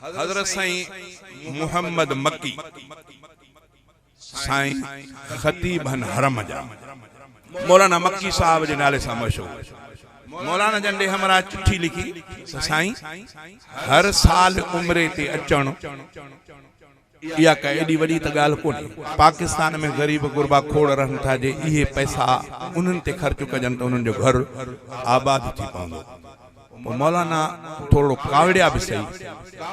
حضرت سائين محمد مڪي سائين خطيب ھن حرم جا مولانا مڪي صاحب جي نالي سان مشھور مولانا جن ڏي ھمراھ چٺي لکي ته سائين ھر سال عمري تي اچڻ اها ڪا ايڏي وڏي ته ڳالهه ڪونهي. پاڪستان ۾ غريب غربا کوڙ رهن ٿا، جي اهي پئسا انهن تي خرچ ڪجن ته انهن جو گهر آباد ٿي پوندو. پوء مولانا ٿورڙو ڪاوڙيا به سهي.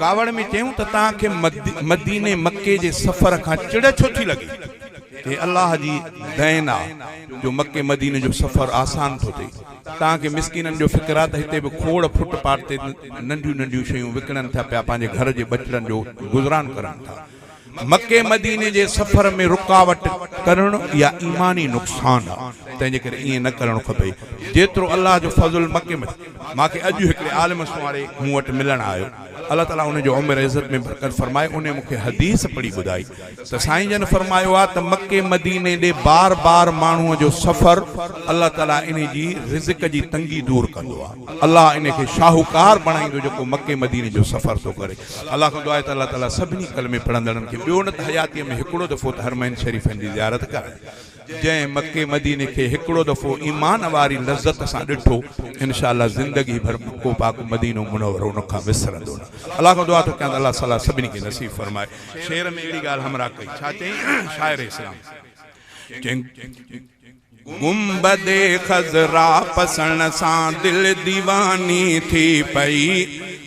ڪاوڙ ۾ چيون ته توهان کي مديني مڪي جي سفر کان چڙ ڇو ٿي لڳي؟ هي الله جي دين آ جو مڪي مديني جو سفر آسان ٿو ٿئي. تان کي مسڪينن جو فڪر آ ته هتي به کوڙ ڦٽ پاٽ تي ننڍيون ننڍيون شيون وڪڻن ٿا پيا پنهنجي گهر جي ٻچڙن جو گذران ڪرن ٿا مڪي مديني جي سفر ۾ رڪاوٽ ڪرڻ اها ايماني نقصان آ تنهن جي ڪري ائين نه ڪرڻ کپي جيترو الله جو فضل مڪي م مان کي اڄ هڪڙي عالم سنواري مون وٽ ملڻ آيو الله تعالي ان جي عمر عزت ۾ برڪت فرمائي انهي مون کي حديث پڙهي ٻڌائي ته سائين جن فرمايو آهي ته مڪي مديني ڏي بار بار ماڻهو جو سفر الله تعالي انهي جي رزق جي تنگي دور ڪندو آهي الله انهي کي شاهوڪار بڻائيندو جيڪو مڪي مديني جو سفر ٿو ڪري الله کان دعا آهي ته الله تعالي سڀني ڪلمي پڙهندڙن کي ٻيو نه ته حياتي ۾ هڪڙو دفعو ته حرمين شريفين جي زيارت ڪرائي جنهن مڪي مديني کي هڪڙو دفعو ايمان واري لذت سان ڏٺو انشاء الله زندگي ڀر مڪو پاڪ مدينو منورو ان کان وسرندو نه الله کان دعا ٿو ڪيان ته الله صلاح سڀني کي نصيب فرمائي شعر ۾ اهڙي ڳالهه همراهه ڪئي ڇا چيائين شاعر اسلام چيائين گنبد خضرا پسڻ سان دل ديواني ٿي پئي.